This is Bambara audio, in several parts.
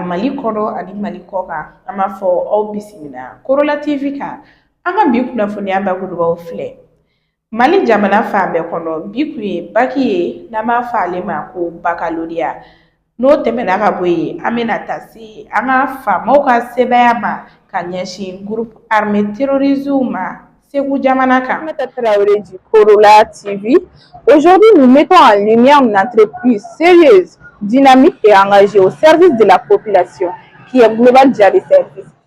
mali kɔnɔ ani mali kɔ kan an b'a fɔ aw bisimila korola tv kan an ka bi kunnafoniya bakurubaw filɛ mali jamana fan bɛɛ kɔnɔ bi kun ye baki ye n'an b'a fɔ ale ma ko bakaloriya N'o tɛmɛna ka bɔ yen an bɛna taa se an ka faamaw ka sebaaya ma ka ɲɛsin groupe armé terroristes ma Segu jamana kan. Aminata Traoré du Korola TV. Aujourd'hui, nous mettons en lumière une entreprise sérieuse, dynamique et engagée au service de la population qui est Global Jali Service.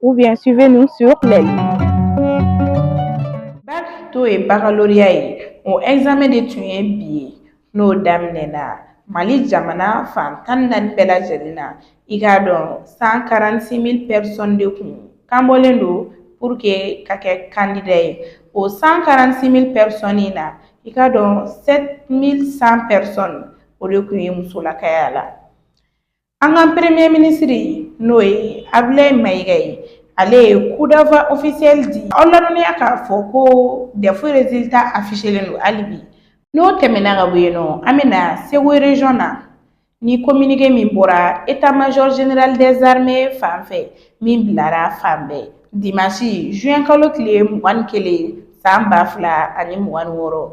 ou bien suivez-nous sur les bac n'o ye baccalauréat ye o examen de tun ye bi ye n'o daminɛna mali jamana fan tan ni naani bɛɛ lajɛlen na i k'a dɔn cent quarante six mille personnes de kun kan bɔlen don pour que ka kɛ kandida ye o cent quarante six mille personnes in na i k'a dɔn sept mille cent personnes o de kun ye musolakaya la An ka peremiye minisiri n'o ye Abdoulaye Maïga ye ale ye coup d'envoi officiel di aw ladɔnniya k'a fɔ ko dɛfu résultat affichélen don hali bi n'o tɛmɛna ka bɔ yen nɔ an bɛ na Segu région na ni communiqué min bɔra état-major général des armées fan fɛ min bilara fan bɛɛ dimansi zuwɛn kalo tile mugan ni kelen san ba fila ani mugan wɔɔrɔ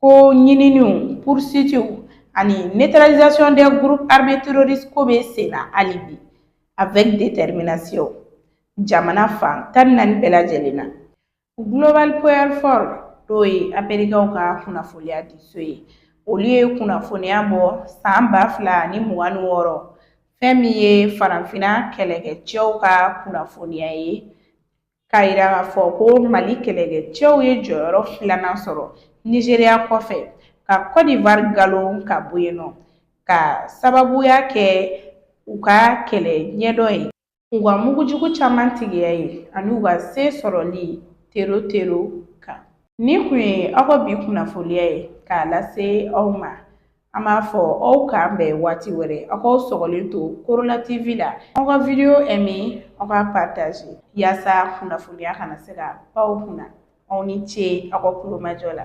ko ɲininiw poursuitew ani neutralisation des groupes armés terroristes k'o bɛ sen na hali bi avec détermination jamana fan tan ni naani bɛɛ lajɛlen na Global Firepower n'o ye amerikɛnw ka kunnafoniya di so ye olu ye kunnafoniya bɔ san ba fila ni mugan ni wɔɔrɔ fɛn min ye farafinna kɛlɛkɛcɛw ka kunnafoniya ye k'a yira k'a fɔ ko mali kɛlɛkɛcɛw ye jɔyɔrɔ filanan sɔrɔ nizeriya kɔfɛ ka kɔdiwari nkalon ka bɔ yen nɔ ka sababuya kɛ u ka kɛlɛ ɲɛdɔn ye u ka mugujugu caman tigiya ye ani u ka se sɔrɔli tero tero kan nin kun ye aw ka bi kunnafoniya ye k'a lase aw ma An b'a fɔ aw k'an bɛn waati wɛrɛ aw k'aw sɔgɔlen to Korola TV la aw ka video aimé aw k'a partage yaasa kunnafoniya kana se ka pan aw kunna aw ni ce aw ka kulomajɔ la.